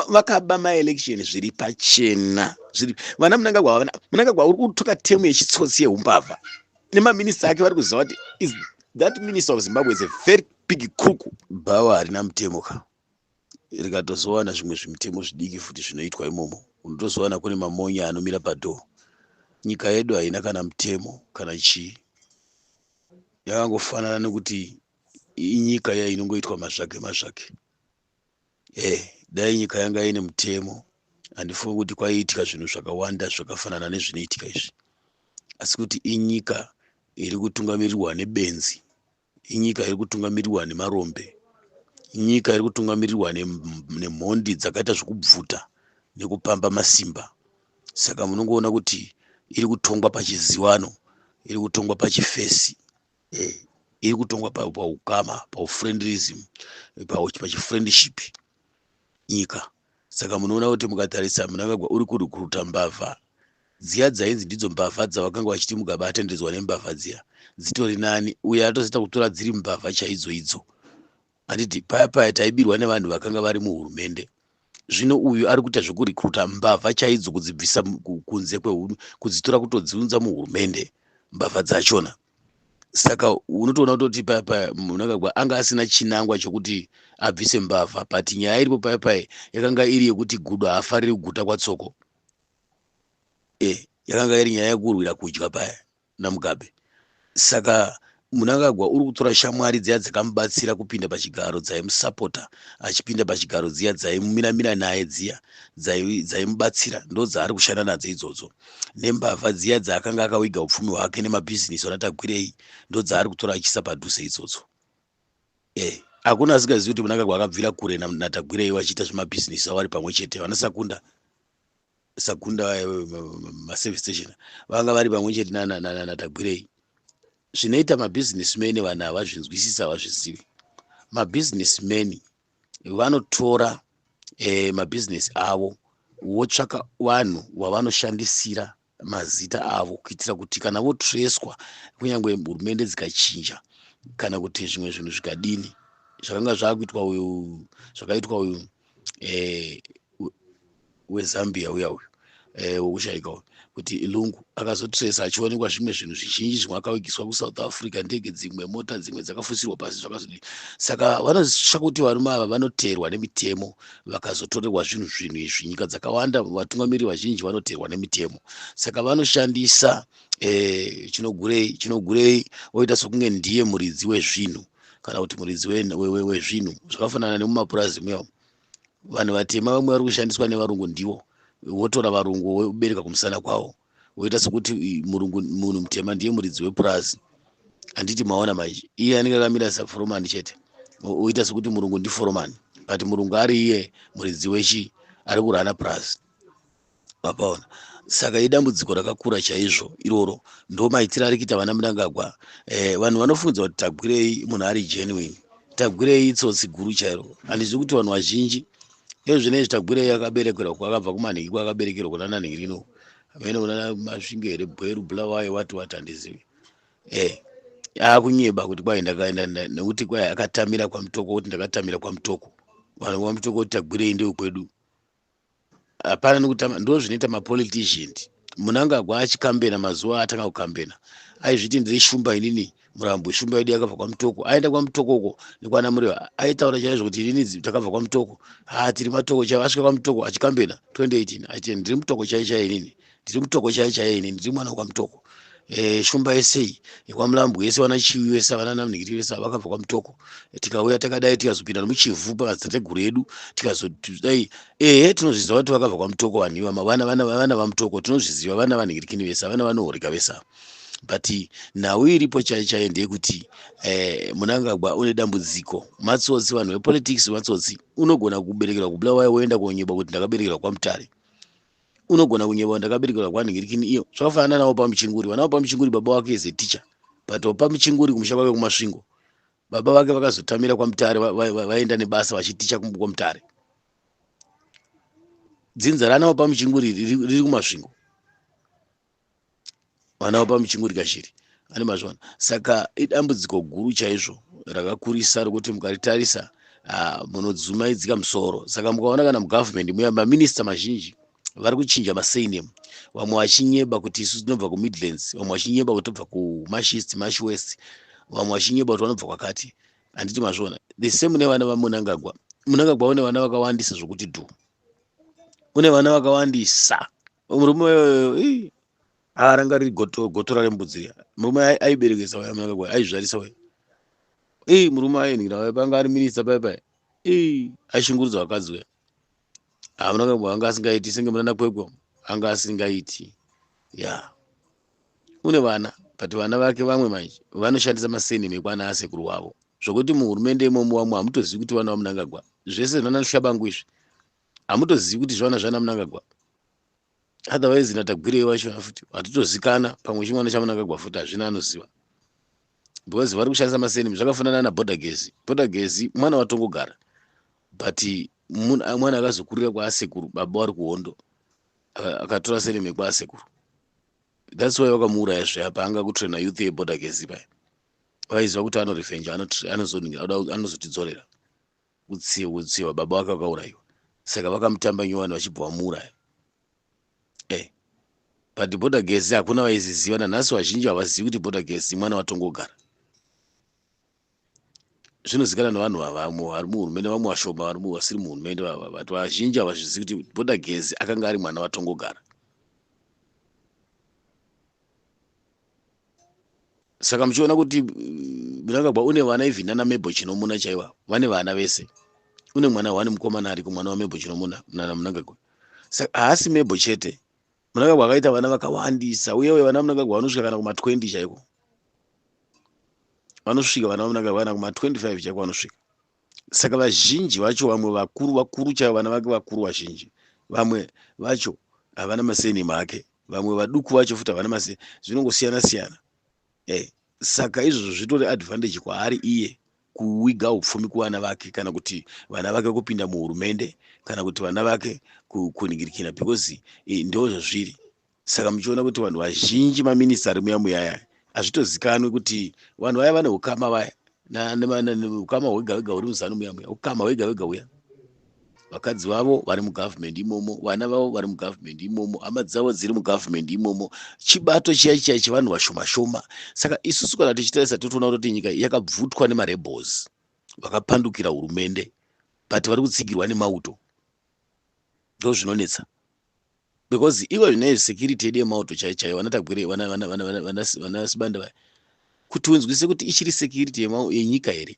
vakaba maelection zviri pachena zviri vana munangagwa vana munangagwa uri kutuka temu yechitsotsi yeumbavha nemaminista ake vari kuziva kuti is that minister of zimbabwe is a very big crook bhawa harina mutemo ka rikatozowana zvimwe zvimitemo zvidiki futi zvinoitwa imomo unotozowana kune mamonya anomira padhoo nyika yedu haina kana mutemo kana chii yakangofanana nekuti inyika yainongoitwa mazvake mazvake Eh, dai nyika yanga ine mutemo handifungi kuti kwaiitika zvinhu zvakawanda zvakafanana nezvinoitika izvi asi kuti inyika iri kutungamirirwa nebenzi inyika iri kutungamirirwa nemarombe inyika iri kutungamirirwa nemhondi dzakaita zvekubvuta nekupamba masimba saka munongoona kuti iri kutongwa pachizivano iri kutongwa pachifesi iri kutongwa pa- paukama paufriendlism pa- pachifriendship nyika saka munoona kuti mukatarisa munangagwa uri kurukuruta mbavha dziya dzainzi ndidzo mbavha dzavakanga vachiti mugabe atendedzwa nembavha dziya dzitori nani uye atozoita kutora dziri mbavha chaidzo idzo Handiti paya paya taibirwa nevanhu vakanga vari muhurumende zvino uyu ari kuita zvekurekruta mbavha chaidzo kudzibvisa kunze kwehunu kudzitora kutodziunza muhurumende mbavha dzachona saka unotoona kutoti paya paya munangagwa anga asina chinangwa chokuti abvise mbavha but nyaya iripo paya paya yakanga iri yekuti gudo haafariri kuguta kwatsoko e eh, yakanga iri nyaya yekurwira kudya paya naMugabe saka Munangagwa uri kutora shamwari dziya dzakamubatsira kupinda pachigaro dzaimusapota achipinda pachigaro dziya dzaimumiramira naye dziya dzaimubatsira ndo dzaari kushanda nadzo idzodzo nembavha dziya dzaakanga akawiga upfumi hwake nemabhizinisi anatagwirei ndo dzaari kutora achiisa padhuze idzodzo e hakuna asingazivi kuti munangagwa akabvira kure natagwirei vachiita zvemabhizinisi avo ari pamwe chete vanasakunda sakunda vaya maservice station vanga vari pamwe chete natagwirei zvinoita mabusiness man vanhu havazvinzwisisa havazvizivi mabusiness man vanotora eh, mabusiness avo votsvaka vanhu vavanoshandisira mazita avo kuitira kuti kana votreswa kunyange hurumende dzikachinja kana kuti zvimwe zvinhu zvikadini zvakanga zvakuitwa uyu zvakaitwa uyu eh, wezambia uya uyu eh, wokushaika uyu kuti ilungu akazotresa achionekwa zvimwe zvinhu zvizhinji zvimwe akavigiswa kusouth africa ndege dzimwe mota dzimwe dzakafusirwa pasi zvakazodii saka vanozisva kuti varume ava vanoteerwa nemitemo vakazotorerwa zvinhu zvinhu izvi nyika dzakawanda vatungamiri vazhinji vanoteerwa nemitemo saka vanoshandisa eh, chinogurei chinogurei oita sokunge ndiye muridzi wezvinhu kana kuti muridzi wezvinhu zvakafanana nemumapurazi muyao vanhu vatema vamwe vari kushandiswa nevarungu ndivo votora varungu vobereka kumusana kwavo voita sekuti murungu munhu mutema ndiye muridzi wepurazi handiti maona maizvi iye anenge akamira saforomani chete oita sekuti murungu ndiforomani but murungu ari iye muridzi wechi ari kurana purazi mapaona saka idambudziko rakakura chaizvo iroro ndo maitiro ari kuita vana mnangagwa eh, vanhu vanofungidzwa kuti tagwirei munhu ari genuine tagwirei itsotsi guru chairo handizivi kuti vanhu vazhinji ezvinezvi tagwirei akaberekerwa kwakabva kumanhingi kwakaberekerwa kuna nanhingi rino amene kuna masvinge here bweru bulawayo wati wati handizivi eh akunyeba kuti kwai ndakaenda nekuti kwai akatamira kwamutoko kuti ndakatamira kwamutoko vanhu kwamutoko kuti tagwirei ndeu kwedu hapana nekutama ndozvinoita mapolitician munangagwa achikambena mazuva atanga kukambena aizviti ndiri shumba inini murambo shumba yedu yakabva kwamutoko aenda kwamutoko uko nekwana mureva aitaura chaizvo kuti inini takabva kwamutoko ha tiri matoko chaivo asvika kwamutoko achikambena 2018 aiti ndiri mutoko chai chai inini ndiri mutoko chaiye chaiye ini ndiri mwana wekwamutoko e, shumba yese iyi yekwamulambo yese vana chiwi vese vana namnigiri vese vakabva kwamutoko e, tikauya takadai tikazopinda nomuchivhu pamadzitateguru edu tikazodai ehe tinozviziva kuti vakabva kwamutoko vanhu ivama vana vana vana vamutoko tinozviziva vana vanhingirikini vese vana vanohoreka vese ava but nhau iripo chai chai ndeyekuti eh, munangagwa une dambudziko matsotsi vanhu vepolitics matsotsi unogona kuberekerwa kubulawayo woenda konyeba kuti ndakaberekerwa kwamutare unogona kunyebawa ndakaberekerwa kwanhingirikini iyo zvakafanana nawo pamuchinguri vana vapamuchinguri baba wake is a teacher but wapamuchinguri kumusha kwake kumasvingo baba vake vakazotamira kwamutare vaenda nebasa vachiticha kwamutare dzinza rana wapamuchinguri riri kumasvingo vana vapa muchingurika shiri ane mazvana saka idambudziko guru chaizvo rakakurisa rokuti mukaritarisa ah, munodzumaidzika musoro saka mukaona kana mugovernment muya maminista mazhinji vari kuchinja masayinem vamwe vachinyeba kuti isu tinobva kumidlands vamwe vachinyeba kuti tobva kumashist mash west vamwe vachinyeba kuti vanobva kwakati handiti mazviona the same nevana vamunangagwa munangagwa une vana vakawandisa zvokuti dhu une vana vakawandisa murume uyoyo aranga riri gotora rembudzi riya murume aiberekesa waya mwana wake aizvarisa waya ii murume ayenhira waya panga ari minista paya paya ii aishungurudza vakadzi waya hamuna kabo anga asingaiti senge munana kwekwa anga asingaiti ya une vana but vana vake vamwe manje vanoshandisa masenimi ekwana asekuru wavo zvokuti muhurumende imomo vamwe hamutozivi kuti vana vamunangagwa zvese zvinanashabangu izvi hamutozivi kuti zvana zvana munangagwa otherwise natagwirei wacho futi hatitozikana pamwe chimwana chamunangagwa futi hazvina anoziva because vari kushandisa masenimi zvakafanana naborder gezi border gezi mwana watongogara but mwana akazokurira kwaasekuru baba wari kuhondo akatora senimi kwaasekuru thats why wakamuuraya zve apa anga kutraina youth yeborder gezi paya vaiziva kuti anorefenja anozotidzorera ano Utsi hutsiwa baba wake wakaurayiwa saka vakamutamba nyowani vachibva vamuuraya eh but border gas hakuna vaiziziva nanhasi vazhinji havazivi kuti border gas imwana watongogara zvinozikana nevanhu vavamwe vari muhurumende vamwe vashoma vari vasiri muhurumende vava but vazhinji havazvizivi kuti border gas akanga ari mwana watongogara saka muchiona kuti mm, mnangagwa une vana even nana mebo chinomuna chaiva vane vana vese une mwana one mukomana ariko mwana wamebo chinomuna nana mnangagwa saka haasi mebo chete mnangagwa akaita vana vakawandisa uyewe vana mnangagwa vanosvika kana kuma 20 chaiko vanosvika vana vamnangagwa kana kuma 25 chaiko vanosvika saka vazhinji vacho vamwe vakuru vakuru chaivo vana vake vakuru vazhinji vamwe vacho havana masenimi ake vamwe vaduku vacho futi havana mase zvinongosiyana siyana eh, saka izvozvo zvitori advantage kwaari iye kuwiga upfumi kuvana vake kana kuti vana vake kupinda muhurumende kana kuti vana vake kuningirikira because eh, ndo zvazviri Saka muchiona kuti vanhu vazhinji maminista ari muya muya aya hazvitozikanwi kuti vanhu vaya vane ukama vaya ukama hwega hwega huri muzanu muya muya ukama hwega hwega uya vakadzi vavo vari mugovernment imomo vana vavo vari mugovernment imomo hama dzavo dziri mugovernment imomo chibato chiya chiya chevanhu vashoma shoma saka isusu kana tichitarisa totoona kuti nyika yakabvutwa nemarebels vakapandukira hurumende but vari kutsigirwa nemauto ndozvinonetsa because ivo zvine security yedu yemauto chaiyo chaiyo vanatagwire vanasibanda vaya kuti unzwise kuti ichiri security yenyika here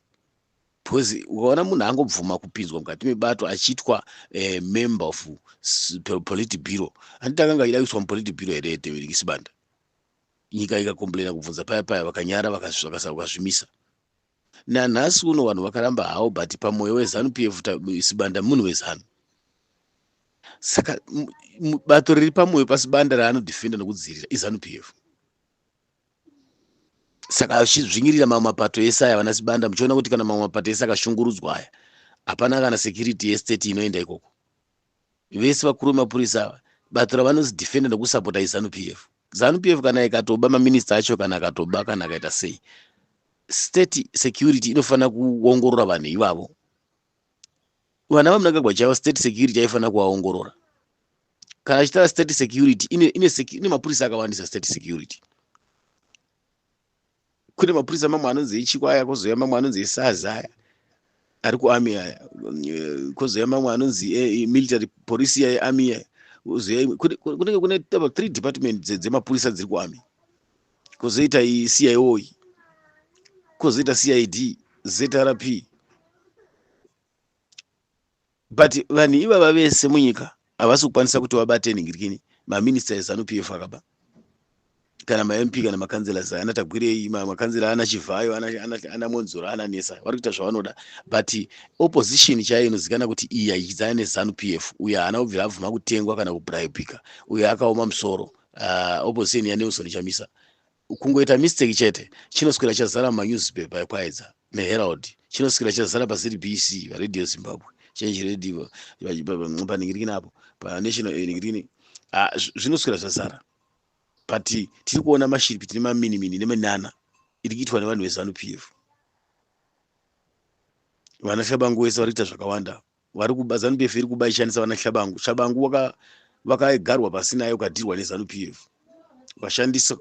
because ukaona munhu angobvuma kupinzwa mukati mebato achiitwa eh, member of politi biro handiti akanga achida kuiswa mupoliti biro here teisibanda nyika ikacomplaina kubvunza paya paya vakanyara vakazvimisa Nanhasi uno vanhu vakaramba hawo but pamoyo weZanu PF Sibanda munhu weZanu. Saka bato riri pamoyo paSibanda raanodefenda nokudzivirira iZanu PF. Saka achidzvinyirira mamwe mapato ese aya vana Sibanda muchiona kuti kana mamwe mapato ese akashungurudzwa aya hapana kana security yestate inoenda ikoko. Vese vakuru vemapurisa ava bato ravanozi defender nekusapota izanu PF. Zanu PF kana ikatoba maminista acho kana akatoba kana akaita sei state security inofanira kuongorora vanhu ivavo. Vana vamunangagwa chaivo state security yaifanira kuvaongorora. Kana achitaura state security ine, ine, ine mapurisa akawandisa state security. kune mapurisa mamwe anonzi echiko aya kozouya mamwe anonzi esazi aya ari kuami aya eh, kozouya mamwe anonzi eh, military police iya yeami iya kunenge kune taba three department dzemapurisa dziri kuami kozoita cio iyi kozoita cid zrp But vanhu ivava vese munyika havasi kukwanisa kuti vabate nhingirikini maminista ezanu p f akaba kana mamp kana makanzelas ana tagwirei makanzela ana chivhayo ana monzoro ana nesa vari kuita zvavanoda but opposition chaiyo inozikana kuti iyi yaichidzana nezanu p f uyo haana kubvira abvuma kutengwa kana kubribika uyo akaoma musoro uh, opposition yanelson chamisa kungoita mistake chete chinoswera chazara manewspaper ekwayedza neherald chinoswera chazara pazbc varadio zimbabwe change radio paningirikini apo panational ningirikini ah, zvinoswera zvazara but tiri kuona mashiripi tine maminimini neminana iri kuitwa nevanhu vezanup f vana shabangu wese vari kuita zvakawanda vari kuba zanu pf iri kuba ishandisa vana hlabangu hlabangu waka vakagarwa pasi naye ukadirwa nezanu pf ukashandisa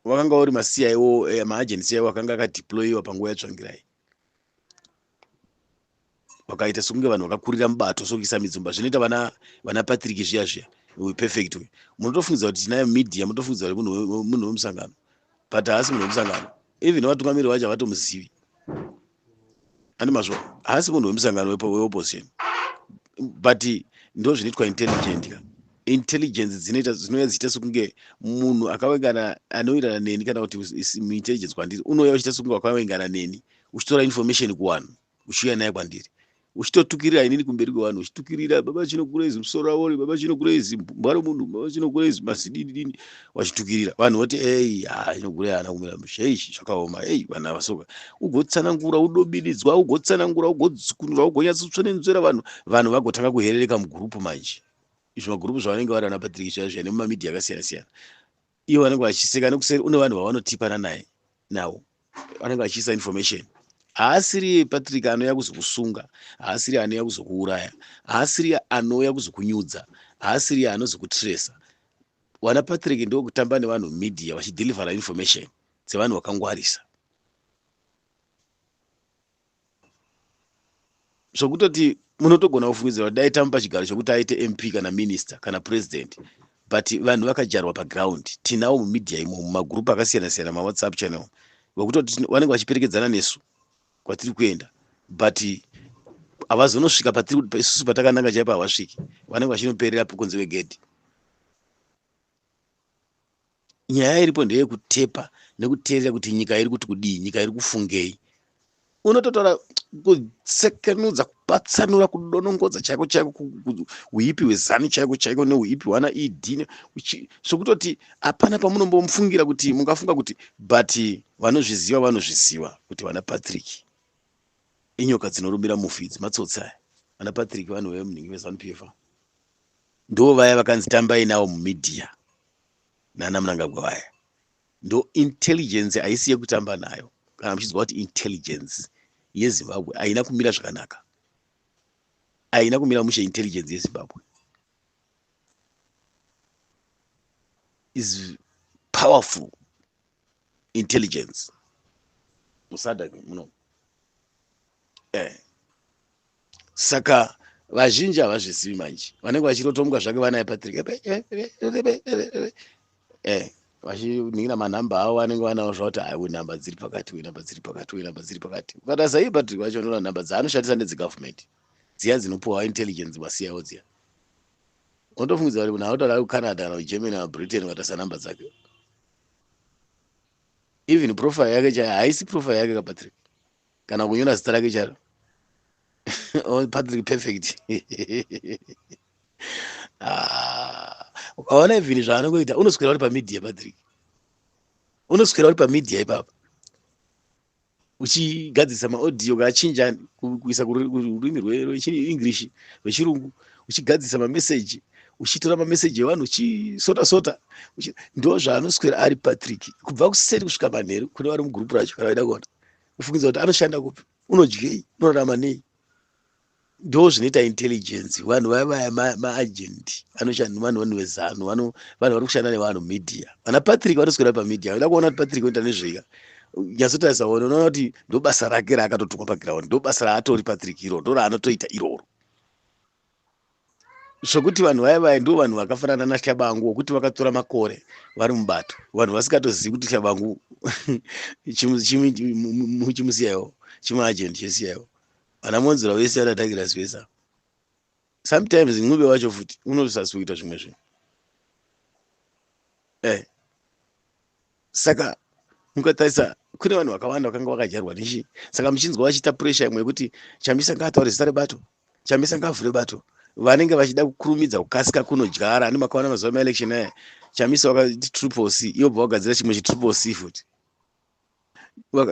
wakanga uri maciwo eh, maagency ayo akanga akadeployiwa panguva yatsvangirai vakaita sokunge vanhu vakakurira mubato sokuisa midzumba zvinoita vana vana patrick zviya zviya uyu perfect uyu munotofungidzira kuti tinayo media munotofungidzira kuti munhu wemusangano but haasi munhu wemusangano even vatungamiriri vacho havatomuzivi ane mazvo haasi munhu wemusangano weopposition but ndo zvinoitwa intelligent ka intelligence dzinoita dzinouya dzichiita sekunge munhu akavengana anowirirana neni kana kuti muintelligence kwandiri unouya uchiita sekunge wakavengana neni uchitora information kuwanhu uchiuya naye kwandiri uchitotukirira inini kumberi kwevanhu uchitukirira baba chino kurezi musoro awori baba chino kurezi mbwa romunhu baba chino kurezi mazidini dini wachitukirira vanhu voti ei ha ino kure ana kumira musha ei zvakaoma ei vanhu avasoka ugotsanangura udobiridzwa ugotsanangura ugodzikunura ugonyatsotsva nenzwera vanhu vanhu vagotanga kuherereka mugurupu manje izvi magurupu zvavanenge vari ana patrick chaivo nemumamidhi yakasiyana siyana ivo vanenge vachiseka nekuseri une vanhu vavanotipana naye nawo vanenge vachiisa information haasiri patrick anouya kuzokusunga haasiri anouya kuzokuuraya haasiri anouya kuzokunyudza haasiri anozokutresa wana patrick ndokutamba nevanhu media vachidhilivhara information dzevanhu vakangwarisa zvokutoti munotogona kufungidzira kuti dai tamupa chigaro chokuti aite mp kana minista kana president but vanhu vakajarwa paground tinawo mumedia imo mumagurupu akasiyana siyana mawhatsapp channel vekutoti vanenge vachiperekedzana nesu kwatiri kuenda but havazonosvika patiri isusu patakananga chaipo havasviki vanenge vachinoperera pokunzi vegedhi nyaya iripo ndeyekutepa nekuteerera kuti nyika iri kuti kudii nyika iri kufungei unototaura kusekenudza kupatsanura kudonongodza chaiko chaiko uipi hwezanu chaiko chaiko neuipi hwana ed zvokutoti hapana pamunombomufungira kuti mungafunga kuti but vanozviziva vanozviziva kuti vana patrick inyoka dzinorumira mufi idzi matsotsi aya vana patrick vanhu vemunhingi vezanu pfa ndo vaya vakanzi tambai navo mumedia nana munangagwa vaya ndo intelligence haisi yekutamba nayo kana muchiziva kuti intelligence yezimbabwe haina kumira zvakanaka haina kumira mushe intelligence yezimbabwe is powerful intelligence musadha muno eh. saka vazhinji havazvizivi manje vanenge vachirotomuka zvake vanaye patrick eh, vachiningira manhamba avo vanenge vanawo zvakuti aiwe nhamba dziri pakati we nhamba dziri pakati we nhamba dziri pakati ukatarisa iye patrick vacho vanoona nhamba dzaanoshandisa nedzegavhumenti dziya dzinopuhwa intelligence vasiyawo dziya unotofungidza kuti munhu anotaura kucanada kana kugermany kana britain ukatarisa nhamba dzake even profile yake chaiyo haisi profile yake kapatrick kana kunyora zita rake charo oh, patrick perfect ah, ukaona ah, even zvaanongoita unoswera uri pamedia patrick unoswera uri pamedia ipapa uchigadzirisa maaudio ukachinja kuisa kururimi rweenglish rwechirungu uchigadzirisa mameseji uchitora mameseji evanhu uchisota sota ndo zvaanoswera ari patrick kubva kuseri kusvika manheru kune vari mugurupu racho kana vaida kuona ufungidza kuti anoshanda kupi unodyei unorarama nei ndo zvinoita intelligence vanhu vaya vaya maagent anoshanda vanhu vanhu vezanu vanhu vanhu vari kushanda nevanhu media vana patrick vanoswera pamedia vada kuona kuti patrick oita nezveika nyatsotarisa one unoona kuti ndo basa rake raakatotukwa paground ndo basa raatori patrick iroro ndo raanotoita iroro zvekuti vanhu vaya vaya ndo vanhu vakafanana nahlabangu wokuti vakatora makore vari mubato vanhu vasikatozivi kuti hlabangu chimusiyaiwo chimaagent chesiyaiwo Ana Monzera vese ana Douglas vese ava. Sometimes Ncube wacho futi unosasi kuita zvimwe zvinhu. Eh. Saka mukatarisa kune vanhu vakawanda vakanga vakajarwa nechi saka muchinzwa vachiita pressure imwe yekuti Chamisa ngaataure zita rebato, Chamisa ngaavhure bato. Vanenge vachida kukurumidza kukasika kunodyara ani makaona mazuva emaelection aya Chamisa wakati triple C iwo bva wagadzira chimwe chi triple C futi.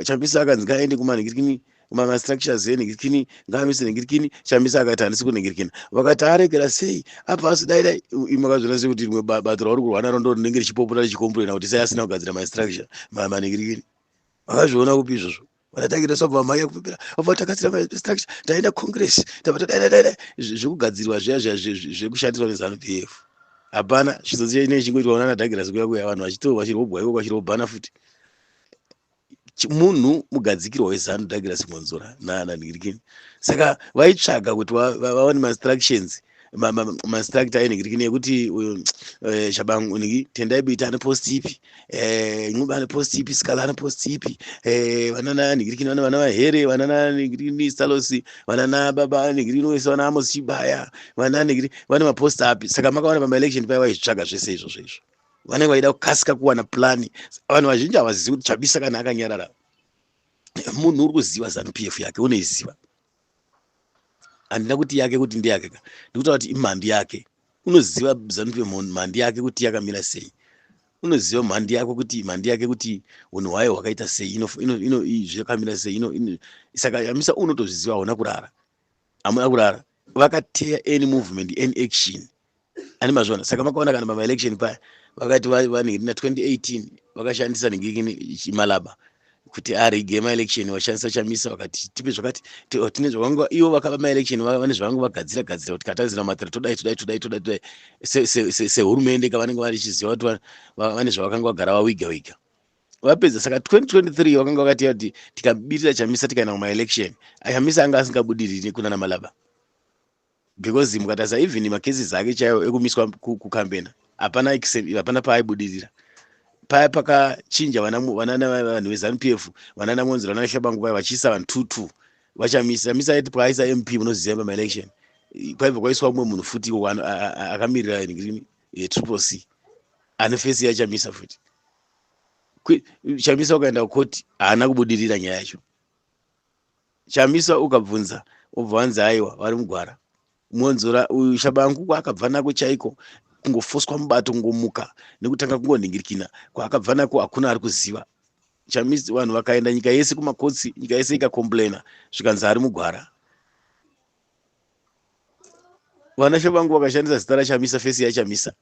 chambisa akanzi ngaaende kumanhingirikini mamastructures enhingirikini ngaanwise nhingirikini chambisa akati handisi kunhingirikina vakati aregera sei apa asi dai dai imwe akazviona sei kuti rimwe bato rauri kurwa naro ndo rinenge richipopota richikomplaina kuti sei asina kugadzira mastructure manhingirikini vakazviona kupi izvozvo vatatakira sabva amai yakupepera vabva takatsira mastructure taenda congress tabva tadaidadaidai zvekugadzirwa zviya zviya zvekushandirwa nezanu p f hapana chizodziya inenge chingoitwa unana dagirasi kuya kuya vanhu vachitoo vachirobwa iko kwachirobhana futi munhu mugadzikirwa wezanu douglas mwonzora nanhingirikini saka vaitsvaga kuti vawane mainstructions mainstruct ainhingirikini yekuti uyu eh, shabangu nhingi tendai bita ane post ipi eh, ncuba ane post ipi sikala ane post ipi eh, vanana nhingirikini vana vana vahere vanana nhingirikini stalosi vanana baba nhingirikini wese vana amos chibaya vana nhingiri vane mapost api saka makawana pamaelection paya vaizvitsvaga zvese izvozvo izvo vanenge vaida kukasika kuwana plani vanhu vazhinji havazivi kuti chabisa kana akanyarara munhu uri kuziva zanupf yake unoiziva handina kuti yake kuti ndeyake ka ndikutaura kuti imhandi yake unoziva zanupf mhandi yake kuti yakamira sei unoziva mhandi yako kuti mhandi yake kuti hunhu hwayo hwakaita sei zvakamira sei saka yamisa unotozviziva hauna kurara hamuna kurara vakateya any movement any action ani mazvona saka makaona kana pamaelection paya vakati vanhingi na 2018 vakashandisa nhingi chimalaba kuti arige maelection vashandisa chamisa vakati tipe zvakati oh, tine zvavanga ivo vakava maelection vane zvavanga vagadzira gadzira kuti katarisira matira todai todai todai todai todai sehurumende kavanenge vachiziva kuti vane zvavakanga vagara vawiga wiga vapedza saka 2023 vakanga vakati kuti tikabirira chamisa tikaenda kumaelection chamisa anga asingabudiriri kunana malaba because mukatarisa even macases ake chaiwo ekumiswa kukambena hapana hapana paaibudirira paya pakachinja vanhu vezanup f vanana monzi vanana shabangu vaya vachiisa vanhu two two vachamisa chamisa aiti paaisa mp munoziva pamaelection kwaibva kwaiswa umwe munhu futi iwo akamirira ringrini eh, triple c ane fesi yachamisa futi chamisa ukaenda kukoti haana kubudirira nyaya yacho Chamisa ukabvunza obva wanzi aiwa vari mugwara mwonzora uyu shabangu kwaakabva nako chaiko kungofoswa mubato kungomuka nekutanga kungonhingirikina kwaakabva nako hakuna ari kuziva chamisi vanhu vakaenda nyika yese kumakotsi nyika yese ikakomplaina zvikanzi ari mugwara vanashe vangu vakashandisa zita rachamisa fesi yachamisa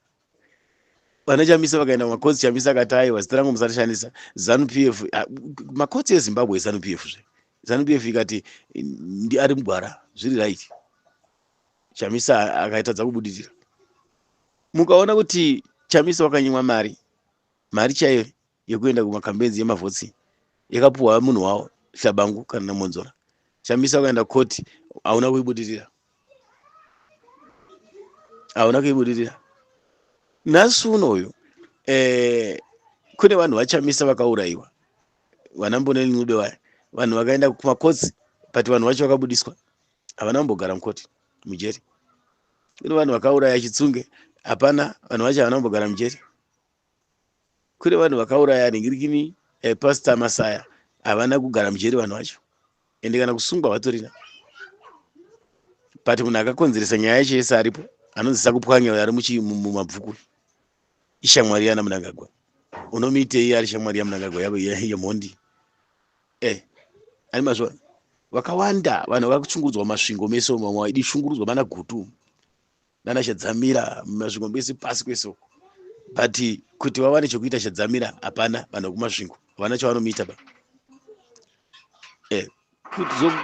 vana chamisa vakaenda kumakotsi chamisa akati aiwa zita rangu musarishandisa zanu p f ah, makotsi ezimbabwe ezanu p f zve zanu p f ikati ndi ari mugwara zviri right chamisa akaitadza kubudirira mukaona kuti chamisa wakanyimwa mari mari chaiyo yekuenda kumakambedzi yemavhotsi yakapuhwa munhu wavo shabangu kana namonzora shamisa ukaenda koti hauna kuibudirira hauna kuibudirira nhasi uno uyu eh, kune vanhu vachamisa vakaurayiwa vana mboneni nude vaya vanhu vakaenda kumakotsi but vanhu vacho vakabudiswa havana kumbogara mukoti mujeri kune vanhu vakauraya chitsunge hapana vanhu vacho havana kumbogara mujeri kune vanhu vakauraya ringirikini eh, pastor masaya havana kugara mujeri vanhu vacho ende kana kusungwa vatorina but munhu akakonzeresa nyaya yacho yese aripo anonzi sakupwanya uyo ari mumabvuku ishamwari yana munangagwa unomiitei ari shamwari yamunangagwa yemhondi e eh, ani mazvona vakawanda vanhu vakuchungurudzwa masvingo mese mamwe waidi shungurudzwa mana gutu nana shadzamira mumasvingo mese pasi kwese uko but kuti vawane chekuita shadzamira hapana vanhu vekumasvingo havana chavanomuita ba eh,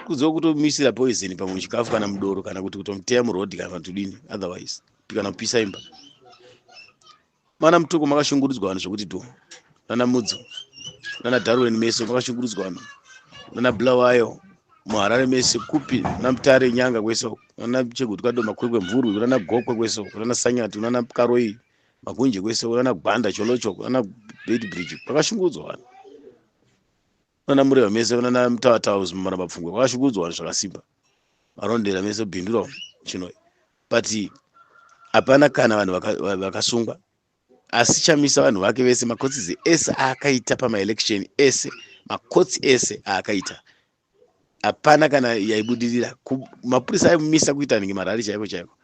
kuziva kutomisira poison pamwe muchikafu kana mudoro kana kuti kutomuteya muroad kana kuti udini otherwise kuti kana kupisa imba Mwana mutoko makashungurudzwa vanhu zvekuti dho nana mudzo nana darwin mese makashungurudzwa vanhu nana bulawayo muharare mese kupi nana mutare nyanga kwese uko nana cheguti kado makwekwe mvurwi kunana gokwe kwese uko kunana sanyati kunana karoyi magunje kwese uko kunana gwanda cholocho kunana beit bridge makashungurudzwa vanhu vana mureva mese vanana mutawatawa zimamara mapfungwa kwakashukurudzwa vanhu zvakasimba varondera mese bhindura chino but hapana kana vanhu vakasungwa vaka asi chamisa vanhu vake vese makotsi ese aakaita pamaelection ese makotsi ese aakaita hapana kana yaibudirira mapurisa aimumisa kuita nenge marari chaiko chaiko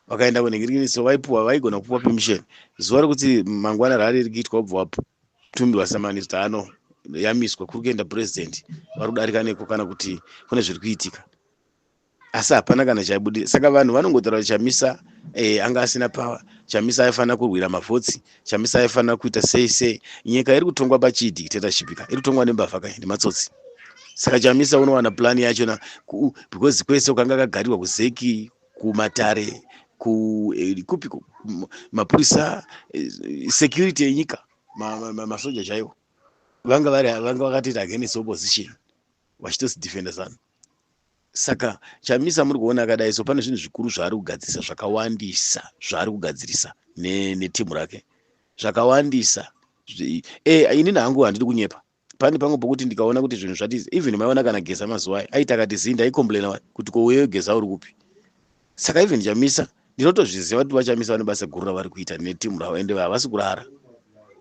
vakaenda kunenge so vaipuwa vaigona kupuwa permission zuva rekuti mangwana rari riri kuitwa ubva wapo Tumbi wasamani zano yamiswa kuri kuenda president vari kudarika neko kana kuti kune zviri kuitika asi hapana kana chaibudira saka vanhu vanongotaura kuti chamisa eh, anga asina power chamisa aifanira kurwira mavhotsi chamisa aifanira kuita sei sei nyika iri kutongwa pachii dictatorship ka iri kutongwa nembavha ka nematsotsi saka chamisa unowana plan yachona because kwese ukanga kagarirwa kuzeki kumatare ku eh, kupi ku- m- mapurisa eh, security yenyika ma- ma- ma- masoja chaiwo vanga vari vanga vakatoita against opposition vachitosidefenda zanu saka chamisa muri kuona akadai so pane zvinhu zvikuru zvaari kugadzirisa zvakawandisa zvaari kugadzirisa ne- netimu rake zvakawandisa Zvi- eh, inini hangu handidi kunyepa pane pamwe pokuti ndikaona kuti zvinhu zvatiza even maiona kana geza mazuva ayo aita akati zii ndaicomplaina wani kuti ko uyeyo geza uri kupi saka even chamisa ndinotozviziva kuti vachamisa vane basa guru ravari kuita netimu ravo ende havasi kurara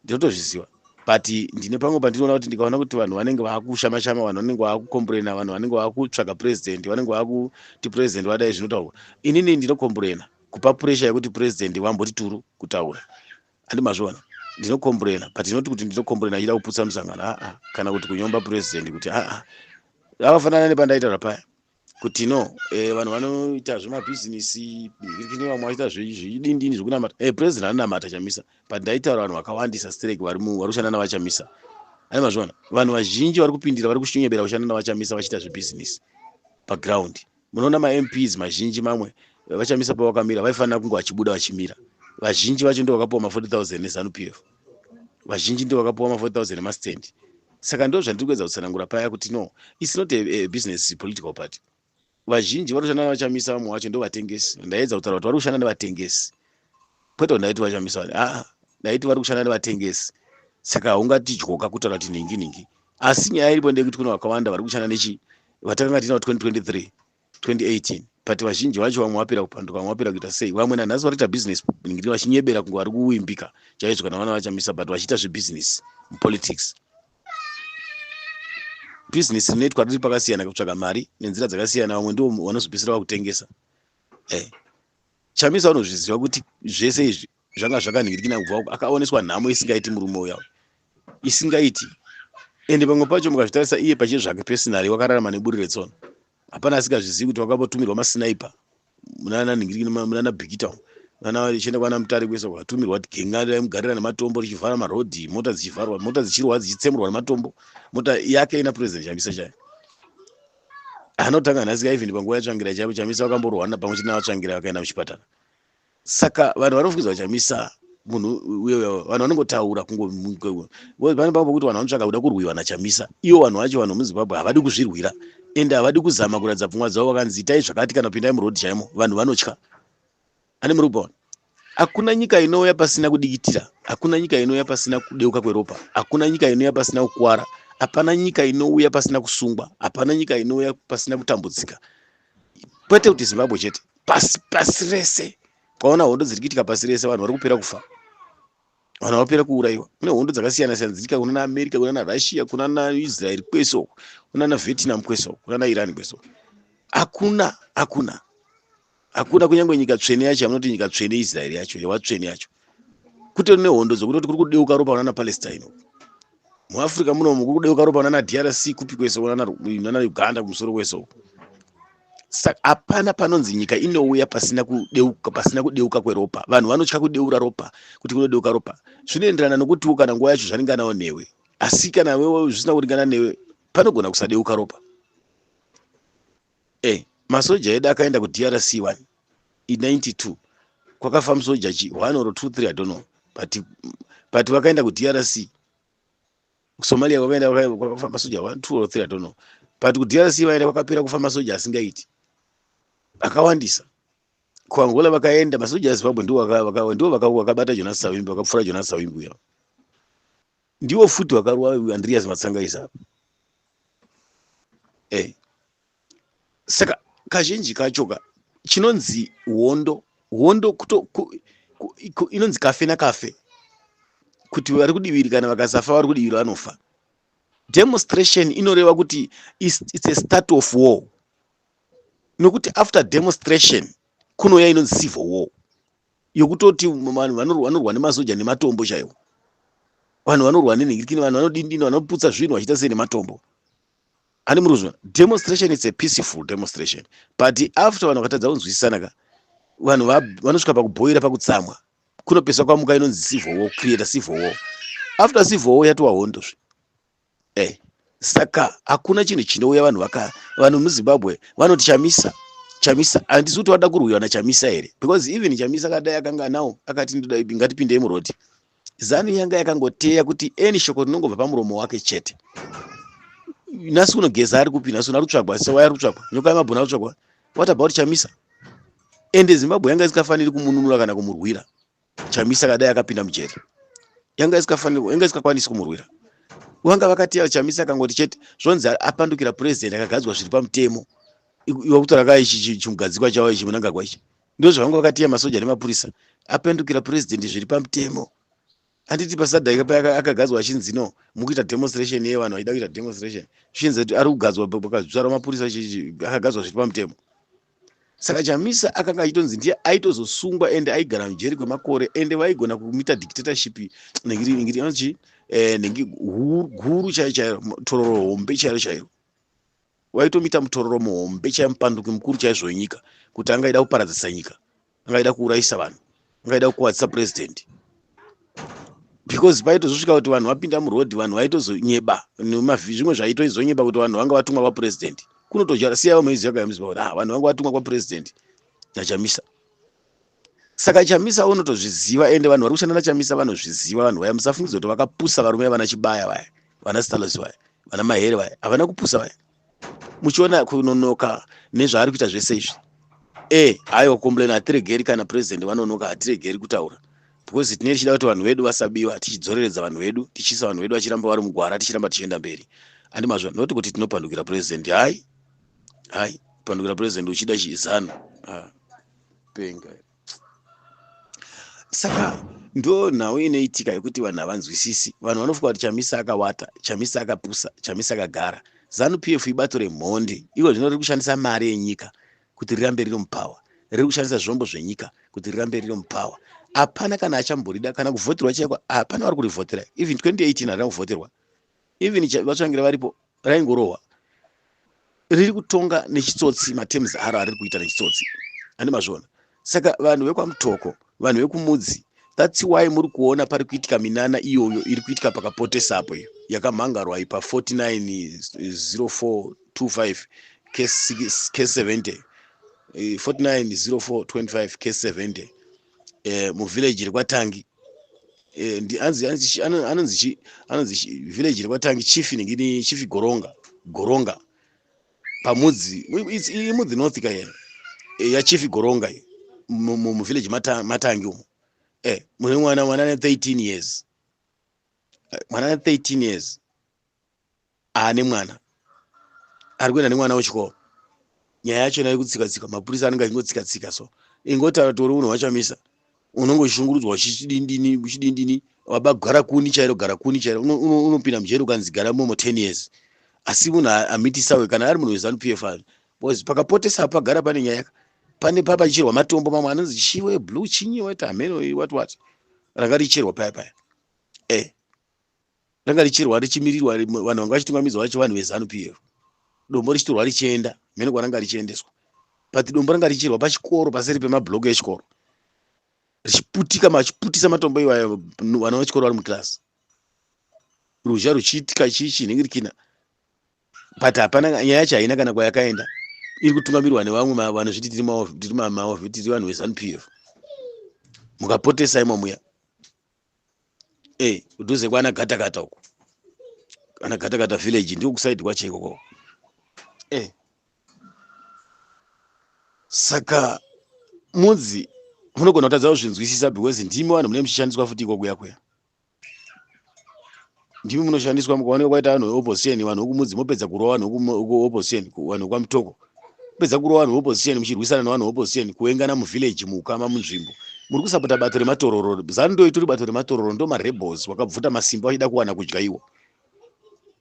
ndinotozviziva but ndine pamwe pandinoona kuti ndikaona kuti vanhu vanenge vaakushamashama vanhu vanenge vaakukomburena vanhu vanenge vaakutsvaga president vanenge vaakuti president vadai zvinotaurwa inini ndinokomburena kupa puresha yekuti president vamboti turu kutaura handi mazviona ndinokomburena but inoti kuti ndinokomburena achida kuputsa musangano aa kana kuti kunyomba purezidendi kuti aa akafanana nepandaita zvapaya kuti no eh, vanhu vanoita zvemabhizinisi kune vamwe vachiita zvidindini zvekunamata e eh, purezidendi anonamata chamisa but ndaitaura vanhu vakawandisa strek vari kushanda navachamisa ai mazviona vanhu vazhinji vari kupindira vari kushinyebera kushanda navachamisa vachiita zvebhizinisi paground munoona mamps mazhinji mamwe vachamisa pavakamira vaifanira kunge vachibuda vachimira vazhinji vacho ndo vakapiwa ma 40000 nezanupf vazhinji ndo vakapiwa ma 40000 emastand saka ndo zvandiri kuedza kutsanangura paya kuti no its not a, a business political party vazhinji vanoshanda navachamisa vamwe vacho ndovatengesi ndaedza kutaura kuti vari kushanda nevatengesi kwete kuti ndaiti vashamisa vanhu aa ndaiti vari kushanda nevatengesi saka haungatidyoka kutaura kuti nhingi nhingi asi nyaya iripo ndeyekuti kune vakawanda vari kushanda nechi vatakanga tiinavo 2023 2018 but vazhinji vacho vamwe vapera kupanduka vamwe vapera kuita sei vamwe nanhasi vari kuita business ningiri vachinyebera kunge vari kuimbika chaizvo kana vana vachamisa but vachiita zvebusiness mupolitics business rinoitwa riri pakasiyana kutsvaga mari nenzira dzakasiyana vamwe ndivo vanozopesera vakutengesa eh. chamisa unozviziva kuti zvese izvi zvanga zvakanhingirikina kubva uko akaoneswa nhamo isingaiti murume uya isingaiti ende pamwe pacho mukazvitarisa iye pachie zvake pesinari wakararama neburi retsono hapana asingazvizivi kuti wakambotumirwa masinaipa munananhingirikina munana bikita munana chienda kwana mutare kwese kwatumirwa kuti genga raimugarira nematombo richivhara marodhi mota dzichivharwa mota dzichirwa dzichitsemurwa nematombo mota yake ina president chamisa chayo anotanga nhasi kaivhini panguva yatsvangira chaipo chamisa vakamborwana pamwe chete navatsvangira vakaenda muchipatara saka vanhu vanofukidza vachamisa munhu uye vanhu vanongotaura kungopane pavo pokuti vanhu vanotsvaka kuda kurwiwa nachamisa ivo vanhu vacho vanhu vemuzimbabwe havadi kuzvirwira ende havadi kuzama kuratidza pfungwa dzavo vakanzi itai zvakati kana pindai muroad chaimo vanhu vanotya Ani muri kupaona? Hakuna nyika inouya pasina kudikitira, hakuna nyika inouya pasina kudeuka kweropa, hakuna nyika inouya pasina kukwara, hapana nyika inouya pasina kusungwa, hapana nyika inouya pasina kutambudzika, kwete kuti Zimbabwe chete, pasi pasi rese. Kwaona hondo dziri kuitika pasi rese, vanhu vari kupera kufa, vanhu vapera kuurayiwa. Kune hondo dzakasiyana siyana dziriitika kuna na America, kuna na Russia, kuna na Israel kwese uko, kuna na Vietnam kwese uko, kuna na Iran kwese uko. Hakuna, hakuna hakuna kunyange nyika tsvene yacho yamunoti nyika tsvene israeri yacho yewatsvene yacho kutori nehondo dzokutoti kuri kudeuka ropa vanana palestine muafrica munomu kuri kudeuka ropa vanana drc kupi kwese nana uganda kumusoro kwese uku saka hapana panonzi nyika inouya pasina kudeuka pasina kudeuka kweropa vanhu vanotya kudeura ropa kuti kunodeuka ropa zvinoenderana nokutiwo kana nguva yacho zvaringanawo newe asi kana wewe zvisina kuringana newe panogona kusadeuka ropa eh masoja edu akaenda ku drc one i 92 kwakafa musoja chi one or two three i don't know but but vakaenda ku drc kusomalia kwakaenda kwakafa masoja one two or three i don't know but ku drc vaenda kwakapera kufa masoja asingaiti akawandisa kuangola vakaenda masoja ezimbabwe ndiwo ndiwo vakabata jonas savimbi vakapfura jonas savimbi uya ndiwo futi wakarwa andreas matsangaisa apa e eh. saka kazhinji kachoka chinonzi hondo hondo kuto ku, ku, ku, inonzi kafe nakafe kuti vari kudiviri kana vakasafa vari kudiviri vanofa demonstration inoreva kuti it's, it's a start of war nokuti after demonstration kunouya inonzi civil war yokutoti vanhu vanorwa nemasoja nematombo chaiwo vanhu vanorwa nenhirikini vanhu vanodindina vanoputsa zvinhu vachiita sei nematombo ani muruzwa demonstration its a peaceful demonstration but after vanhu vakatadza kunzwisisana ka vanhu vanosvika pakubhoira pakutsamwa kunopesa kwamuka inonzi civil war creator civil war after civil war yatova hondozve Eh, saka hakuna chinhu chinouya vanhu vaka vanhu muzimbabwe vanoti chamisa chamisa handisi kuti wada kurwiwa nachamisa here because even chamisa kadai akanga nawo akati ndoda ipi ngatipindei murodi zanu yanga yakangoteya kuti any shoko rinongobva pamuromo wake chete nhasi uno geza ari kupi nhasi uno ari kutsvagwa sewaya ari kutsvagwa nyoka yemabhoni ari kutsvagwa what about chamisa ende zimbabwe yanga isikafaniri kumununura kana kumurwira chamisa akadai akapinda mujeri yanga isikafanirwa yanga isikakwanisi kumurwira vanga vakatiyara chamisa akangoti chete zvonzi apandukira president akagadzwa zviri pamutemo iwa kutora ka ichi chimugadzikwa chavo ichi munangagwa ichi ndozvavanga vakatiya masoja nemapurisa apandukira president zviri pamutemo handiti pasadhaika pa akagadzwa achinzi no mukuita demonstration ye vanhu vaida kuita demonstration zvichinzi kuti ari kugadzwa pakazvara mapurisa akagadzwa zviri pamutemo saka chamisa akanga achitonzi ndiye aitozosungwa ende aigara mujeri kwemakore ende vaigona kumita dictatorship nengirianzi eh, nengi guru chaiyo chaiyo tororo hombe chaiyo chaiyo waitomita mutororo muhombe chaiyo mupanduki mukuru chaizvo wenyika kuti anga aida kuparadzisa nyika anga aida kuurayisa vanhu anga aida kukuvadzisa president because paitozosvika kuti vanhu vapinda muroad vanhu vaitozonyeba zvimwe zvaitoizonyeba kuti vanhu vanga vatumwa kwapresident kunotoja siya vamwe iziva kayamuziva kuti ah, vanhu vanga vatumwa kwapresident nachamisa saka chamisa unotozviziva ende vanhu vari kushanda nachamisa vanozviziva vanhu vaya musafungidza kuti vakapusa varume vana chibaya vaya vana stalosi vaya vana mahere vaya havana kupusa vaya muchiona kunonoka nezvaari kuita zvese izvi e haiwa kukomplaina hatiregeri kana president vanonoka hatiregeri kutaura because tine tichida kuti vanhu vedu vasabiwa tichidzoreredza vanhu vedu tichiisa vanhu vedu vachiramba vari mugwara tichiramba tichienda mberi andi mazvo not kuti tinopandukira president hai hai kupandukira president uchida chizano ah, penga saka ndo nhau inoitika yekuti vanhu havanzwisisi vanhu vanofunga kuti chamisa akawata chamisa akapusa chamisa akagara zanu p f ibato remhondi iko zvino riri kushandisa mari yenyika kuti rirambe riri mupower riri kushandisa zvombo zvenyika kuti rirambe riri mupower hapana kana achamborida kana kuvhoterwa chaiko hapana vari kurivhotera even 2018 harina kuvhoterwa even vatsvangira varipo raingorohwa riri kutonga nechitsotsi matems aro ariri kuita nechitsotsi ane mazvona saka vanhu vekwamutoko vanhu vekumudzi thats why muri kuona pari kuitika minana iyoyo iri kuitika pakapotesapo iyo yakamhangarwa ipa 490425 k70 490425 k70 eh, muvillage rekwatangi eh, anonzi village rekwatangi chief inenge ini chief goronga goronga pamudzi imudzi north ka here eh, yachief goronga iyo muvillage matangi umo eh, mune mwana mwana ne 13 years mwana ne 13 years aane mwana ari kuenda nemwana wechikoro nyaya yachona yekutsika tsika mapurisa anenge achingotsika tsika so ingotaura tori unhu wachamisa unenge uchishungurudzwa uchidindini uchidindini waba gara kuni chairo gara kuni chairo unopinda mujeri ukanzi gara momo ten years asi munhu amitisawe kana ari munhu wezanu p f ave bcause pakapotesa pagara pane nyaya yaka pane papa chicherwa matombo mamwe anonzi chiwe blue chinyi wati hameno wati wati ranga richerwa paya paya e eh. ranga richirwa richimirirwa vanhu vanga vachitungamidzwa vacho vanhu vezanu pf dombo richitorwa richienda mhene kwaranga richiendeswa but dombo ranga richirwa pachikoro paseri pemablock echikoro richiputika machiputisa matombo iwayo vana vechikoro vari muclass ruzha ruchiitika chii chinhingirikina but hapana nyaya yacho haina kana kwayakaenda iri kutungamirwa nevamwe vanhu zviti tiri mavo tiri vanhu vezanup f mukapotesa imo muya hey, eh, kudhuze kwana gatakata uko kana gatakata village ndiko kusaidi kwacho ikoko hey. Eh. saka mudzi munogona kutadza kuzvinzwisisa because ndimi vanhu mune muchishandiswa futi ikokuya kuya ndimi munoshandiswa mukaoneka kwaita vanhu veopposition vanhu vekumudzi mopedza kurova vanhu vekuopposition vanhu vekwamutoko mopedza kurova vanhu veopposition muchirwisana nevanhu veopposition kuengana muvillage muukama munzvimbo muri kusapota bato rematororo zanu ndo itori bato rematororo ndo marebels wakabvuta masimba vachida kuwana kudya iwo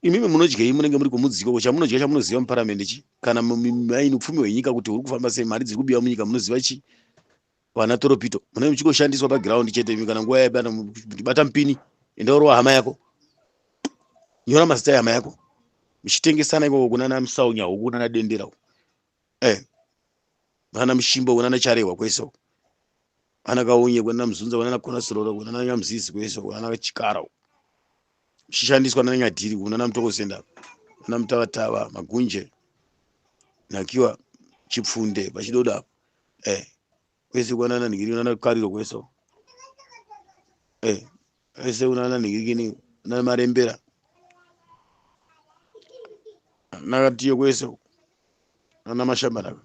imimi munodyei munenge muri kumudziko ko chamunodya chamunoziva muparamende chi kana maini upfumi hwenyika kuti huri kufamba sei mari dziri kubiwa munyika munoziva chii vana toropito munenge muchingoshandiswa paground chete imi kana nguva yabata bata mupini enda urova hama yako nyora mazita ehama yako muchitengesana ikoko kunana musaunya uku kunana dendera uku eh vana mushimba uku nana charehwa kwese uku vana kaunye kunana muzunza kunana konasirora uku nana nyamuzizi kwese uku nana chikara uku muchishandiswa nana nyadhiri uku nana mutokosenda nana mutavatava magunje nakiwa chipfunde pachidodo apo eh kwese kwana nani kiri nana kariro kweso eh kwese una nani kiri kini na marembera nakatiyo kweso nana mashamba naka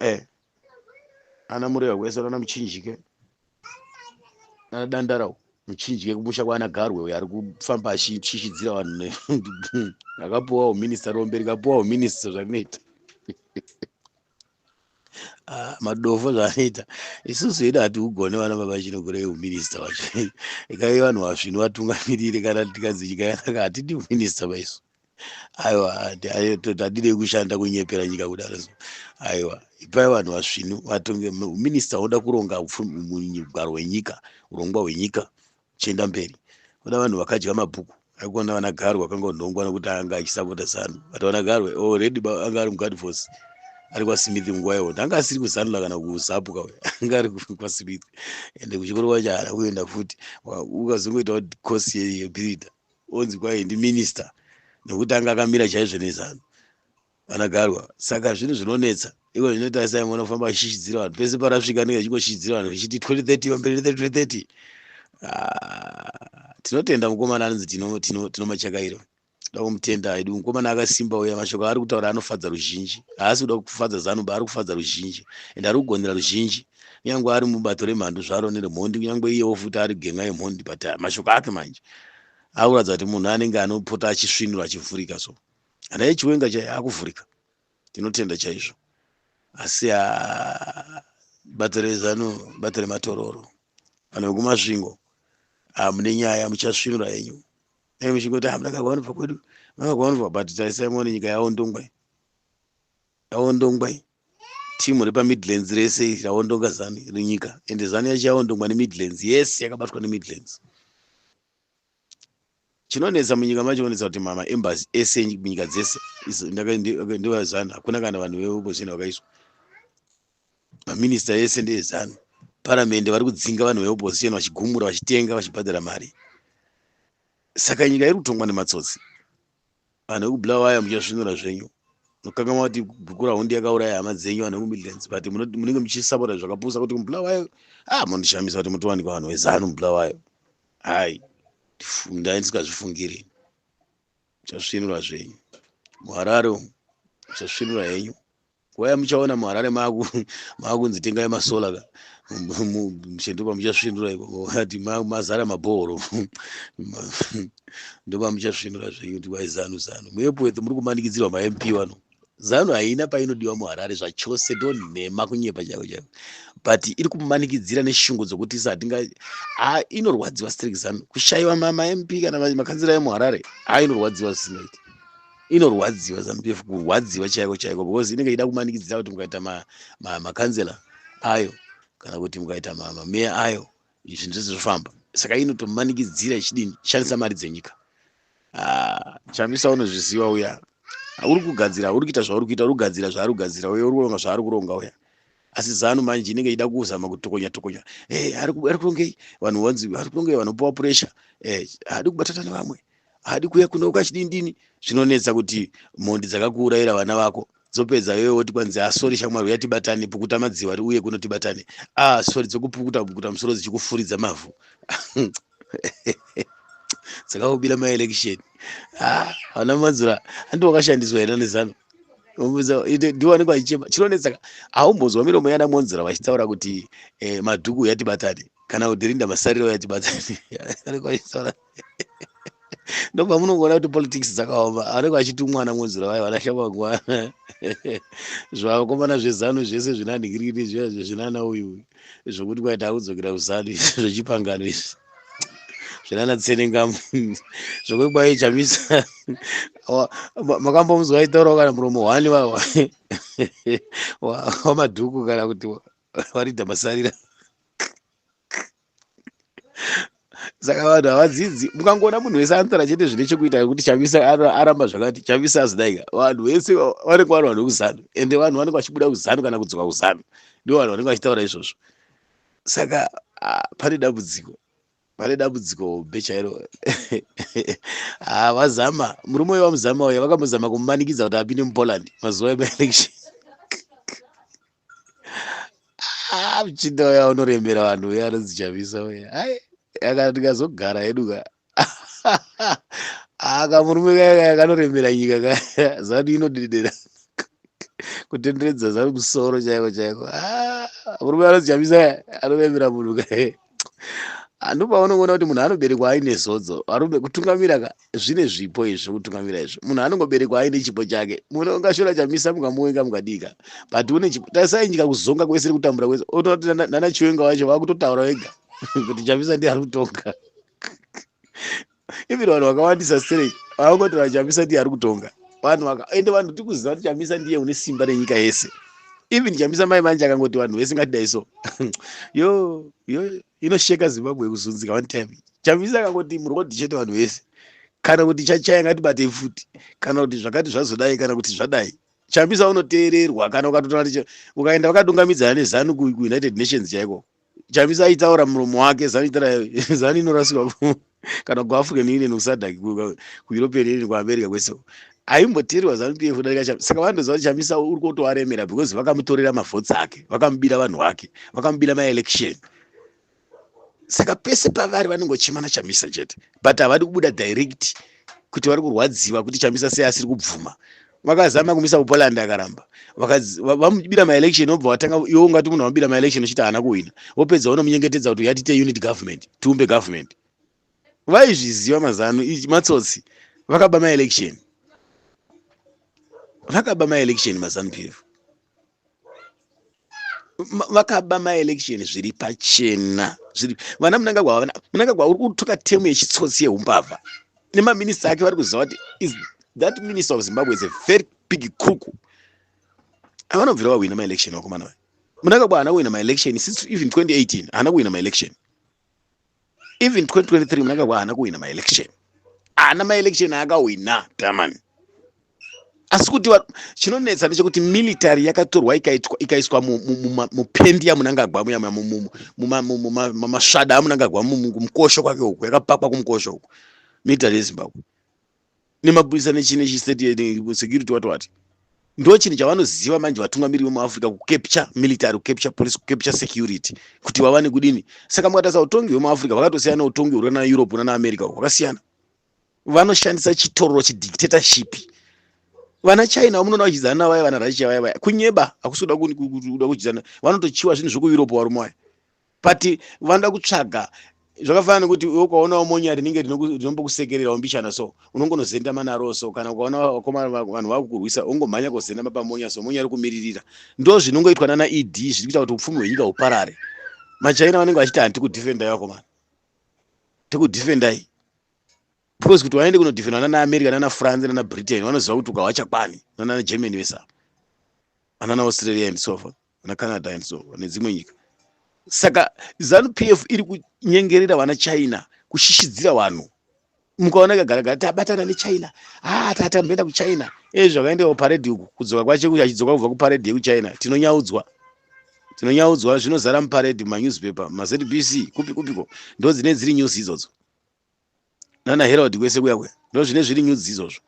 eh ana murega kweso nana muchinjike nana dandarawo muchinjike kumusha kwana garwe uyo ari kufamba achishishidzira vanhu akapuwawo minista rombe rikapuwawo minista zvazvinoita Ah, madofo zvaanoita isusu hedu hati ugone vana baba chino kure uminista wacho ikai vanhu vasvinu vatungamirire kana tikanzi nyika yanaka hatidi uminista vaisu aiwa tadidei kushanda kunyepera nyika kudaro so aiwa ipai vanhu vasvinu vatonge uminista unoda kuronga mugwaro wenyika urongwa hwenyika chienda mberi kuna vanhu vakadya mabhuku akona vana garwe akanga unhongwa nokuti anga achisapota zanu but vana garwe already oh, anga ari mugard force ari kwasmith nguva yahondo anga asiri kuzanula kana kuzapu kawe anga ari kwasmith ende kuchikoro kwacho haana kuenda futi ukazongoita kuti course yebirida onzi kwaye ndiminister nokuti anga akamira chaizvo nezanu Vanagarwa, saka zvinhu zvinonetsa iko zvinotarisa imwe unofamba achishishidzira vanhu pese parasvika anenge achingoshishidzira vanhu vachiti 2030 pamberi 2030 ah, tinotenda mukomana anonzi tino, tino, tino machakairo dakumutenda haidi mukomana akasimba uya mashoko aari kutaura anofadza ruzhinji haasi kuda kufadza zanumba ari kufadza ruzhinji and ari kugonera ruzhinji kunyange ari mubato remhandu zvaro neremhondi kunyange iyewo futi ari genga yemhondi but ah, mashoko ake manje akuratidza kuti munhu anenge anopota achisvinura achivhurika so Nyaya yechiwenga chaiyo yakuvhurika. Tinotenda chaizvo. Asi ah, bato rezanu, bato rematororo, vanhu vekumasvingo, ah, mune nyaya muchasvinura yenyu. Dai muchingoti hamuna ah, kakwanobva kwedu, makakwanobva but tarisai muone nyika yaondongwa. Yaondongwa. Timu repaMidlands rese raondonga zanu renyika. Ende zanu yacho yaondongwa neMidlands. Yes, yakabatwa neMidlands. chinonetsa munyika macho onetsa kuti mama embassy ese munyika dzese ndovazanu hakuna kana vanhu veopposition vakaiswa maminista ese ndeezanu paramende vari kudzinga vanhu veopposition vachigumura vachitenga vachibhadhara mari saka nyika iri kutongwa nematsotsi Vanhu vekuBulawayo muchasvinura zvenyu. Munokangamwa kuti Gukurahundi yakauraya hama dzenyu vanhu vekuMidlands but munenge muchisapota zvakapusa kuti muBulawayo ah mondishamisa kuti mutowanikwa vanhu vezanu muBulawayo. Hai ndai ndisikazvifungiri. Muchasvinura zvenyu. MuHarare umu muchasvinura henyu. nguva yamuchaona muharare maku makunzi tengai masola ka mshe ndopamuchasvinura ati mazara mabhoro ndopamuchasvinura zvenyu kuti kwai zanu zanu muepwethu muri kumanikidzirwa mamp wano zanu haina painodiwa muharare zvachose ndonhema kunyepa chavo chavo but iri kumanikidzira neshungu dzokuti sa hatinga ha inorwadziwa strik zanu kushayiwa mamp kana makanzira emuharare ha inorwadziwa zvisinoiti inorwadziwa zanupf kurwadziwa chaiko chaiko because inenge ichida kumanikidzira kuti mukaita makanzela ayo kana kuti mukaita mameya ayo zvinhu zvese zvofamba saka inotomanikidzira ichidini shandisa mari dzenyika ah, chamisa unozviziva uya uri kugadzira uri kuita zvauri kuita uri kugadzira zvaari kugadzira uye uri kuronga zvaari kuronga uya asi zanu manje inenge ichida kuzama kutokonya tokonya eh, ari kurongei vanhu vanzi ari kurongei vanopiwa puresha eh, haadi kubatata nevamwe haadi kuuya kuno ukachidindini zvinonetsa kuti mhondi dzakakuurayira vana vako dzopedza iwe woti kwanzi asori ah, shamwari uya tibatane pukuta madziwa ri uye kuno tibatane a ah, sori dzokupukuta pukuta musoro dzichikufuridza mavhu dzakakubira maelection ah, ana madzura andi wakashandiswa here nezano ndiwanikwa achichema chinonetsaka haumbonzwa miromo yana monzura vachitaura kuti eh, madhuku yatibatane kana kuti rinda masariro yatibatane ndopamunongoona kuti politics dzakaoma anenge achiti mwana mwonzura vayo vana shamangwa zvavakomana zvezanu zvese zvinanhikiriri zviya zvezvinana uyu zvokuti kwaita akudzokera kuzanu izvi zvechipangano izvi zvinana tsenengamu zvokuti kwaye chamisa makambomuzwa aitaurawo kana muromo hwani wawa wamadhuku kana kuti waridha masarira saka vanhu havadzidzi mukangoona munhu wese anotara chete zvine chekuita kuti chamisa aramba zvakati chamisa azidaika vanhu vese vanenge vanhu vane kuzanu ende vanhu vanenge vachibuda kuzanu kana kudzoka kuzanu ndo vanhu vanenge vachitaura izvozvo saka pane dambudziko pane dambudziko hombe chairo havazama murume uyo vamuzama uya vakambozama kumumanikidza kuti apinde mupoland mazuva emaelection ah, muchinda uya unorembera vanhu uya anonzi chamisa uya ai akana ndikazogara hedu ka aka ah, murume kaya kanorembera nyika ka zanu inodedera kutenderedza zanu musoro chaiko chaiko ah, murume anonzi chamisa anorembera munhu kae handu paunongoona kuti munhu anoberekwa aine zodzo varume kutungamira ka zvine zvipo izvi zvekutungamira izvi munhu anongoberekwa aine chipo chake munhu ungashora chamisa mukamuwenga mukadika but une chipo tasainyika kuzonga kwese kutambura kwese otoona kuti nana chiwenga wacho vakutotaura wega kuti chamisa ndiye ari kutonga even vanhu vakawandisa straight vakangotaura chamisa ndiye ari kutonga vanhu vakaende vanhu tikuziva kuti chamisa ndiye une simba renyika yese even chamisa mai manje akangoti vanhu vese ngatidai so yo yo inosheka zimbabwe yekuzunzika one time chamisa akangoti murodi chete vanhu vese kana kuti chachaya ngatibatei futi kana kuti zvakati zvazodai kana kuti zvadai chamisa unoteererwa kana ukatotaura ukaenda vakadungamidzana nezanu kuunited nations chaiko chamisa aitaura muromo wake zanu itara zanu inorasika kana kuafrican union kusadak kueuropean union kuamerica kwese aimboteerwa zanu pf kudarika chamisa saka vandoziva kuti chamisa uri kutoaremera because vakamutorera mavhots ake vakamubira vanhu vake vakamubira maelection saka pese pavari vanongochimana chamisa chete but havadi kubuda direct kuti vari kurwadziwa kuti chamisa sei asiri kubvuma vakazama kumisa kupoland akaramba vamubira maelection obva watanga iwe ungati munhu wamubira maelection uchiti haana kuhwina wopedza unomunyengetedza kuti uyatite unit government tiumbe government vaizviziva mazano matsotsi vakaba maelection vakaba maelection mazanu pf vakaba maelection zviri pachena zviri vana munangagwa vana munangagwa uri kutuka temu yechitsotsi yeumbavha nemaminista ake vari kuziva kuti is that minister of zimbabwe is a very big crook avanobvira vahwina maelection vakomana vaya munangagwa haana kuhwina maelection since even 2018 haana kuhwina maelection even 2023 mnangagwa haana kuhwina maelection haana maelection aakahwina tamani asi kuti chinonetsa ndechekuti military yakatorwa ikaiswa mupendi yamunangagwa muya mumasvada amunangagwa kumukosho kwake uku yakapakwa kumukosho uku military yezimbabwe nemapurisa nechine chisecurity wati wati ndo chinhu chavanoziva manje vatungamiri vemuafrica kucapture military kucapture police kucapture security kuti vavane kudini saka mukatarisa utongi hwemuafrica vakatosiyana utongi huri kana europe nana america hwakasiyana vanoshandisa chitororo chedictatorship vana china vamunoona vachidzana navaya vana russia vaya vaya kunyeba hakusi kuda kuda kuchidzana vanotochiwa zvinhu zvekueurope varume vaya but vanoda kutsvaga zvakafanana nekuti iwe ukaonawo monya rinenge rinombokusekererawo mbichana so unongonozendama naro so kana ukaona vakoma vanhu vakukurwisa ungomhanya kozendama pamonya so monya rikumiririra ndo zvinongoitwa nana ed zviri kuita kuti upfumi hwenyika huparare machaina vanenge vachiti handi kudefendai vakomana tikudefendai because kuti vaende kunodefendwa nana america nana france nana britain vanoziva kuti ukahwachakwani nana germany vese ava anana australia and so forth vana canada and so nedzimwe nyika saka zanu p f iri kunyengerera vana china kushishidzira vanhu mukaona kagaragara tabatana nechina ha ah, tatamboenda kuchina e zvakaendea kuparedhi uku kudzoka kwache kuti achidzoka kubva kuparedhi yekuchina tinonyaudzwa tinonyaudzwa zvinozara muparedhi mumanewspaper mazbc kupi kupiko ndo dzine dziri news idzodzo nana herald kwese kuya kuya ndozvine zviri nyudzi izvozvo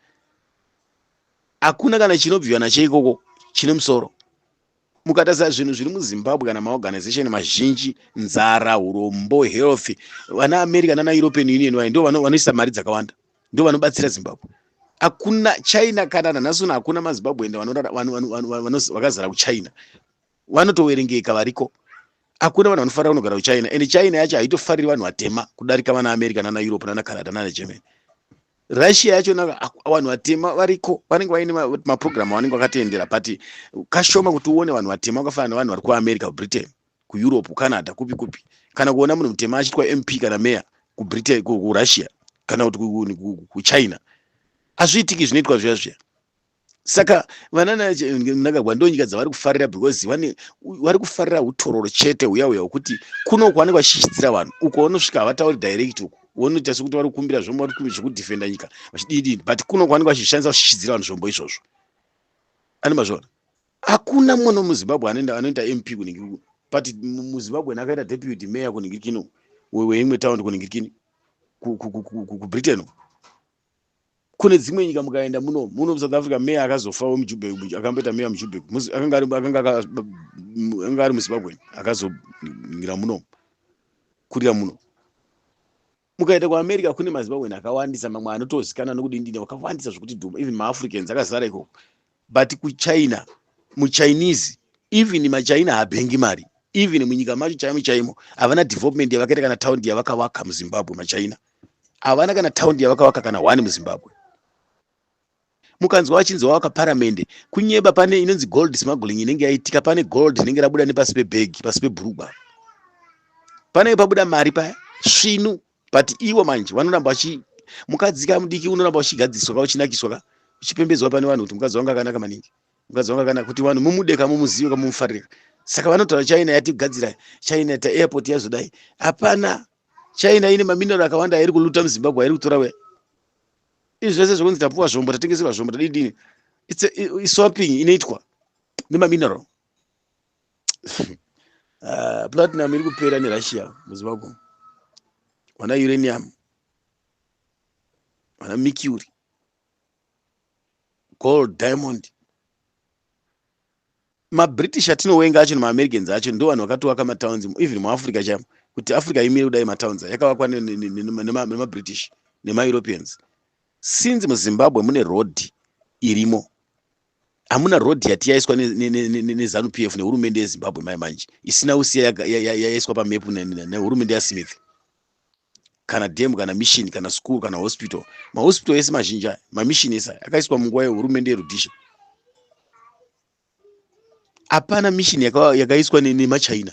hakuna kana chinobviwa nacho ikoko chine musoro mukatarisa zvinhu zviri muzimbabwe kana maorganization mazhinji nzara urombo health vana america nana european union vaye ndo vanoisa mari dzakawanda ndo vanobatsira zimbabwe hakuna china kana nanhasuna hakuna mazimbabwe enda vakazara kuchina vanotoverengeka variko akuna vanhu vanofarira kunogara kuchina and china yacho haitofariri vanhu vatema kudarika vana america nana europe nana canada nana germany russia yacho na vanhu vatema variko vanenge vaine maprogramu avanenge vakatendera but kashoma kuti uone vanhu vatema vakafanana nevanhu vari kuamerica kubritain kueurope kucanada kupi kupi kana kuona munhu mutema achiitwa mp kana meya kubritain kurussia kana kuti kuchina hazviitiki zvinoitwa zviya zviya saka vana mnangagwa ndonyika dzavari kufarira because vane vari kufarira utororo chete huya huya hwekuti kuno kwanenge vachishidzira vanhu uko vanosvika havatauri direct uko vonoita sekuti vari kukumbira zvombo vari kukumbira zvekudefenda nyika vachididii but kuno kwanenge vachishandisa kushidzira vanhu zvombo izvozvo ani mazvona hakuna mwana muzimbabwe anoenda anoita mp kunenge kuno but muzimbabwe nakaita deputy mayor kunenge kino weimwe town kunenge kini kubritain uko kune dzimwe nyika mukaenda muno muno musouth africa meya akazofawo mujubek akamboita meya mujubek akanga ari muzimbabwen akazongira muno kurira muno mukaenda kuamerica kune mazimbabwen akawandisa mamwe anotozikana nokudindina wakawandisa zvokuti dhuma even maafricans akazara ikoko but kuchina muchinese even machina habengi mari even munyika macho chaimo chaimo havana development yavakaita kana taundi yavakavaka muzimbabwe machina havana kana taundi yavakavaka kana one muzimbabwe mukanzwa vachinzi wavaka paramende kunyeba pane inonzi gold smuggling inenge yaitika pane gold rinenge rabuda nepasi pebhegi pasi pebhurugwa panenge pabuda mari paya svinu but ivo manje vanoramba vachi mukadzi ka mudiki unoramba uchigadziswa ka uchinakiswa ka uchipembedzwa pane vanhu kuti mukadzi wangu akanaka maningi mukadzi wangu akanaka kuti vanhu mumude ka mumuzive ka mumufarire saka vanotaura china yatigadzira china ta airport yazodai hapana china ine maminero akawanda airi kuluta muzimbabwe airi kutora we izvi zvese zvekunzi tapuwa zvombo tatengeserwa zvombo tadidini iswapping inoitwa nemaminero uh, platinum iri kupera nerussia muzimbabwe vana uranium vana mercury gold diamond mabritish atinowenga acho nemaamericans acho ndo vanhu vakatovaka matowns even muafrica chamo kuti africa imire kudai matowns yakavakwa nemabritish nemaeuropeans since muzimbabwe mune road irimo hamuna road yati yaiswa nezanu p f nehurumende yezimbabwe mai manje isina usiya yaiswa pamepu nehurumende yasmith kana dam kana mission kana school kana hospital mahospital ese mazhinji aya mamishin ese akaiswa munguva yehurumende yerudisha hapana mission yakaiswa nemachina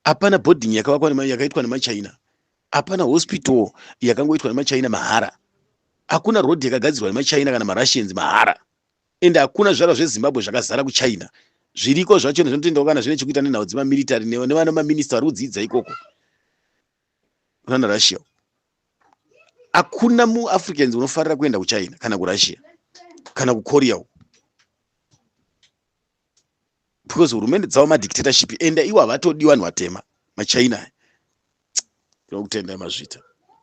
hapana boarding yakaitwa nemachina hapana hospital yakangoitwa nemachina mahara hakuna road yakagadzirwa nemachina kana marussians mahara and hakuna zvizvarwa zvezimbabwe zvakazara kuchina zviriko zvacho nezvinotendawo kana zvine chekuita nenhau dzemamiritary nevana maminista vari kudziidza ikoko kunana russia hakuna muafricans unofarira kuenda kuchina kana kurussia kana kukorea uko because hurumende dzavo madictatorship ende iwo havatodi vanhu vatema machina aya tinokutendai mazvita